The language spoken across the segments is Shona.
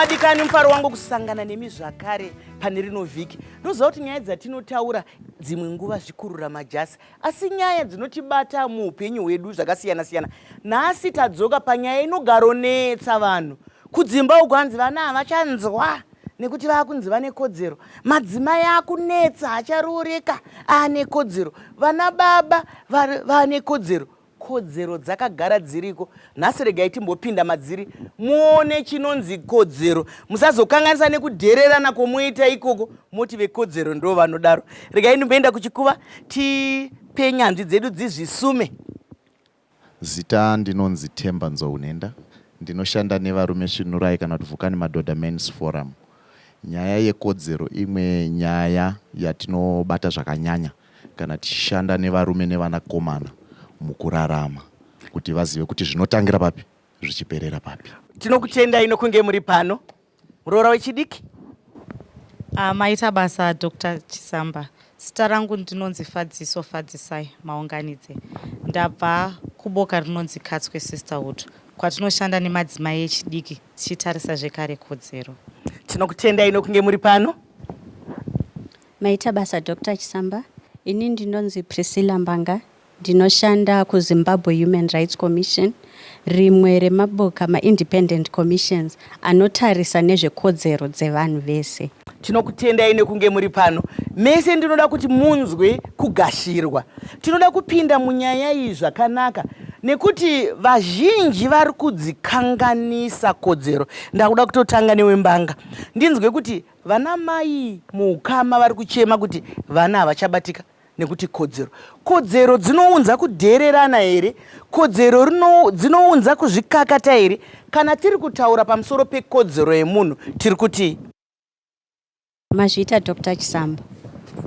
vadikani mufaro wangu kusangana nemi zvakare pane rino vhiki ndoziva kuti nyaya dzatinotaura dzimwe nguva zvikurura majasi asi nyaya dzinotibata muupenyu hwedu zvakasiyana siyana nhasi tadzoka panyaya inogaronetsa vanhu kudzimba uku hanzi vana havachanzwa nekuti vaakunzi vane kodzero madzimai akunetsa acharooreka aane kodzero vana baba vaane kodzero kodzero dzakagara dziriko nhasi regai timbopinda madziri muone chinonzi kodzero musazokanganisa nekudhererana kwomoita ikoko moti vekodzero ndo vanodaro regai ndimboenda kuchikuva tipe nyanzvi dzedu dzizvisume Zita ndinonzi Themba Nzowunenda ndinoshanda nevarume Svinurai kana kuti Vukani Madhodha Men's Forum. Nyaya yekodzero imwe nyaya yatinobata zvakanyanya kana tichishanda nevarume nevanakomana mukurarama kuti vazive kuti zvinotangira papi zvichiperera papi. Tinokutendai nokunge muri pano. Muroora wechidiki. Uh, maita basa Dr. Chisamba. Zita rangu ndinonzi Fadziso Fadzisai Maunganidze. Ndabva kuboka rinonzi Katswe Sisterhood kwatinoshanda nemadzimai echidiki tichitarisa zvekare kodzero. Tinokutendai nokunge muri pano. Maita basa Dr. Chisamba. Ini ndinonzi Priscilla Mbanga Ndinoshanda kuZimbabwe Human Rights Commission, rimwe remaboka maIndependent Commissions anotarisa nezvekodzero dzevanhu vese. Tinokutendai nekunge muri pano mese. Ndinoda kuti munzwe kugashirwa. Tinoda kupinda munyaya iyi zvakanaka nekuti vazhinji vari kudzikanganisa kodzero. Ndakuda kutotanga newembanga ndinzwe kuti vana mai muukama vari kuchema kuti vana havachabatika. nekuti kodzero kodzero dzinounza kudheererana here kodzero dzinounza kuzvikakata here kana tiri kutaura pamusoro pekodzero yemunhu tiri kuti mazviita dr chisambo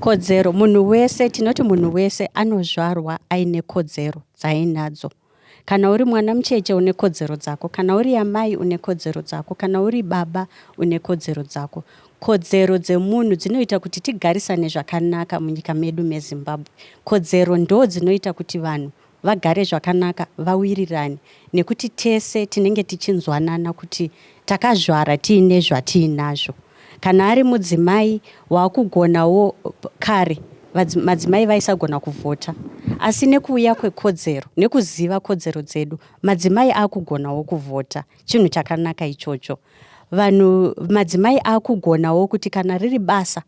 kodzero munhu wese tinoti munhu wese anozvarwa aine kodzero dzaainadzo Kana uri mwana mucheche une kodzero dzako, kana uri amai une kodzero dzako, kana uri baba une kodzero dzako. Kodzero dzemunhu dzinoita kuti tigarisane zvakanaka munyika medu meZimbabwe. Kodzero ndo dzinoita kuti vanhu vagare zvakanaka, vawirirane nekuti tese tinenge tichinzwanana kuti takazvara tiine zvatiinazvo. Kana ari mudzimai wakugonawo kare madzimai vaisagona kuvhota asi nekuuya kwekodzero nekuziva kodzero dzedu madzimai akugonawo kuvhota chinhu chakanaka ichocho vanhu madzimai akugonawo kuti kana riri basa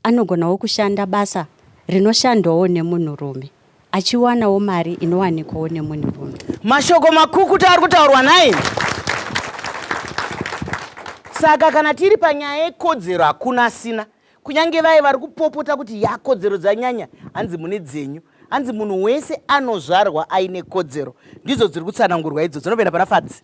Anogonawo kushanda basa rinoshandwawo nemunhurume achiwanawo mari inowanikwawo nemunhurume. Mashoko makukutu ari kutaurwa nhai? Saka kana tiri panyaya yekodzero hakuna asina, kunyange vaye vari kupopota kuti ya kodzero dzanyanya, hanzi mune dzenyu. Hanzi munhu wese anozvarwa aine kodzero. Ndidzo dziri kutsanangurwa idzo dzinopinda pana Fadzi.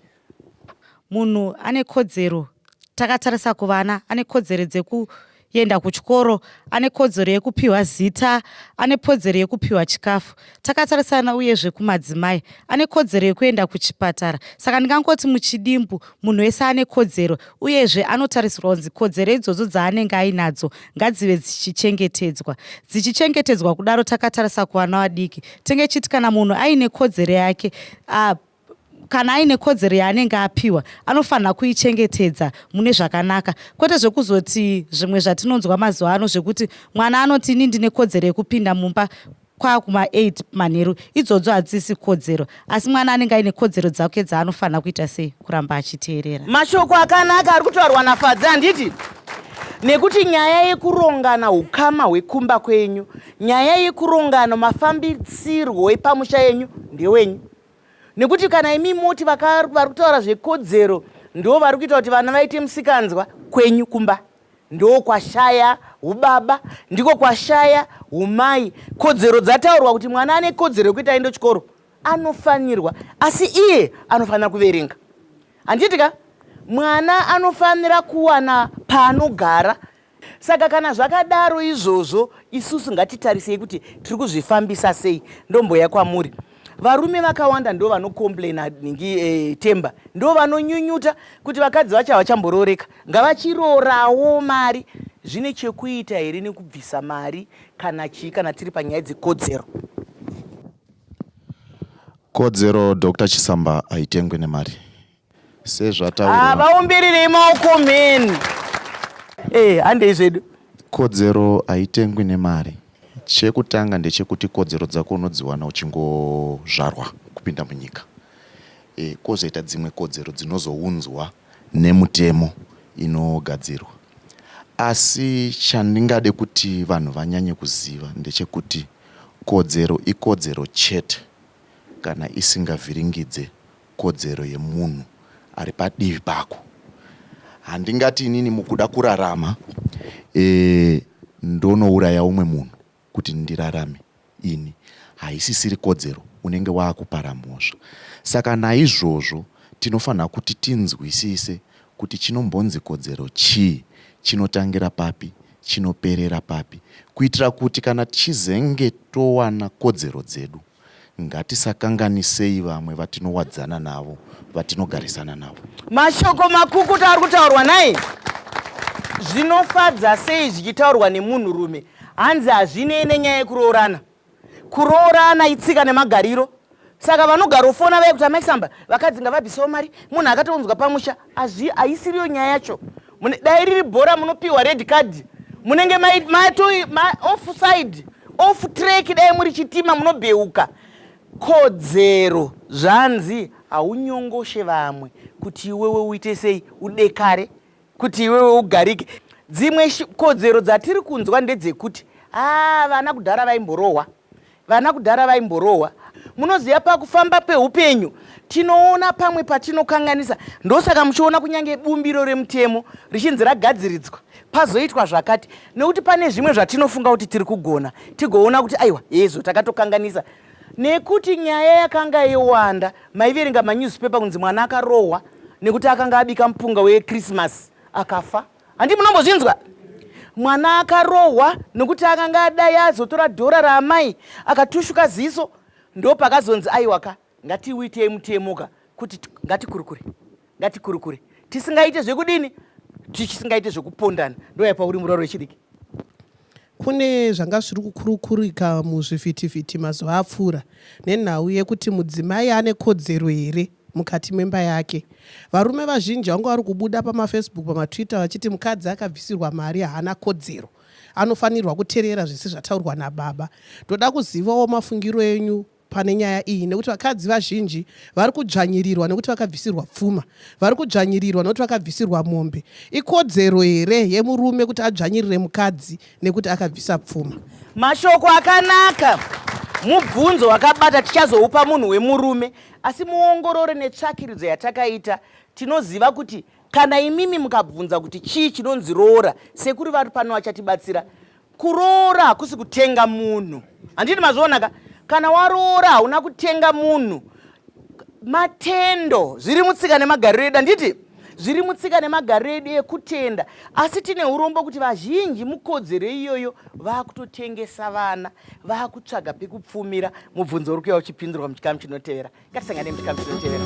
munhu ane kodzero takatarisa kuvana ane kodzero dzeku yenda kuchikoro ane kodzero yekupiwa zita ane kodzero yekupiwa chikafu takatarisana uyezve kumadzimai ane kodzero yekuenda kuchipatara saka ndingangoti muchidimbu munhu wese ane kodzero uyezve anotarisirwa kunzi kodzero idzodzo dzaanenge ainadzo ngadzive dzichichengetedzwa dzichichengetedzwa kudaro takatarisa kuvana vadiki tenge chiti kana munhu aine kodzero yake uh, kana aine kodzero yaanenge apiwa anofanira kuichengetedza mune zvakanaka kwete zvekuzoti zvimwe zvatinonzwa mazuva ano zvekuti mwana anoti ini ndine kodzero yekupinda mumba kwakuma 8 manheru idzodzo hadzisi kodzero asi mwana anenge aine kodzero dzake dzaanofanira kuita sei kuramba achiteerera mashoko akanaka ari kutaurwa nafadzi handiti nekuti nyaya yekurongana ukama hwekumba kwenyu nyaya yekurongana mafambisirwo epamusha yenyu ndewenyu nekuti kana imi moti vari kutaura zvekodzero ndo vari kuita kuti vana vaite musikanzwa kwenyu kumba ndo kwashaya ubaba ndiko kwashaya umai kodzero dzataurwa kuti mwana ane kodzero yekuti aende chikoro anofanirwa asi iye anofanira kuverenga handiti ka mwana anofanira kuwana paanogara Saka kana zvakadaro izvozvo isusu ngatitarisei kuti tiri kuzvifambisa sei ndomboya kwamuri varume vakawanda ndo vanocomplaina ningi e, temba ndo vanonyunyuta kuti vakadzi vacho havachamborooreka ngavachiroorawo mari zvine chekuita here nekubvisa mari kana chii kana tiri panyaya dzekodzero kodzero dr chisamba haitengwe nemari sezvataurwa vaumbirire imaoko mhen eh handei zvedu kodzero haitengwi nemari chekutanga ndechekuti kodzero dzako unodziwana uchingozvarwa kupinda munyika e, kwozoita dzimwe kodzero dzinozounzwa nemutemo inogadzirwa asi chandingade kuti vanhu vanyanye kuziva ndechekuti kodzero ikodzero chete kana isingavhiringidze kodzero yemunhu ari padivi pako handingati inini mukuda kurarama e, ndonouraya umwe munhu kuti ndirarame ini haisisiri kodzero unenge waakupara mhosva saka naizvozvo tinofanira kuti tinzwisise kuti chinombonzi kodzero chii chinotangira papi chinoperera papi kuitira kuti kana tichizenge towana kodzero dzedu Ngatisakanganisei vamwe vatinowadzana navo, vatinogarisana navo. Mashoko makukutu ari kutaurwa nai zvinofadza sei zvichitaurwa nemunhurume hanzi hazvinei nenyaya yekuroorana kuroorana itsika nemagariro saka vanogarofona vaye kuti amai samba vakadzi ngavabvisewo mari munhu akatonzwa pamusha Azvi aisiriyo nyaya yacho. Dai riri bhora munopiwa red card. Munenge mai mai to ma offside. Off track dai muri chitima munobheuka. Kodzero zvanzi haunyongoshe vamwe kuti iwewe uite sei udekare kuti iwewe ugarike. Dzimwe kodzero dzatiri kunzwa ndedzekuti ah vana kudhara vaimborohwa. Vana kudhara vaimborohwa. Munoziva pakufamba pehupenyu tinoona pamwe patinokanganisa ndosaka muchiona kunyange bumbiro remutemo richinzi ragadziridzwa pazoitwa zvakati nekuti pane zvimwe zvatinofunga kuti tiri kugona tigoona kuti aiwa hezvo takatokanganisa nekuti nyaya yakanga yowanda maiverenga manewspaper kunzi mwana akarohwa nekuti akanga abika mupunga wekrismas akafa handi munombozvinzwa mwana akarohwa nokuti akanga adai azotora dhora raamai akatushuka ziso ndo pakazonzi aiwaka ngatiuitei mutemoka kuti ngatikurukure ngatikurukure tisingaite zvekudini tisingaite zvekupondana ndoyapa uri muroro wechidiki Kune zvanga zviri kukurukurika muzvivhitivhiti mazuva apfuura nenhau yekuti mudzimai ane kodzero here mukati memba yake. Varume vazhinji vanga vari kubuda pamafacebook, pamatwitter vachiti mukadzi akabvisirwa mari haana kodzero, anofanirwa kuterera zvese zvataurwa nababa. Ndoda kuzivawo mafungiro enyu pane nyaya iyi nekuti vakadzi vazhinji vari kudzvanyirirwa nekuti vakabvisirwa pfuma vari kudzvanyirirwa nekuti vakabvisirwa mombe ikodzero here yemurume kuti adzvanyirire mukadzi nekuti akabvisa pfuma mashoko akanaka mubvunzo wakabata tichazoupa munhu wemurume asi muongorore netsvakiridzo yatakaita tinoziva kuti kana imimi mukabvunza kuti chii chinonzi roora sekuri vari pano vachatibatsira Kuroora hakusi kutenga munhu, handiti mazvionaka? Kana waroora hauna kutenga munhu. Matendo zviri mutsika nemagariro edu, handiti zviri mutsika nemagariro edu ekutenda, asi tine urombo kuti vazhinji mukodzero iyoyo vakutotengesa vana, vakutsvaga pekupfumira. Mubvunzo uri kuya uchipindurwa muchikamu chinotevera. Ngatisangane muchikamu chinotevera.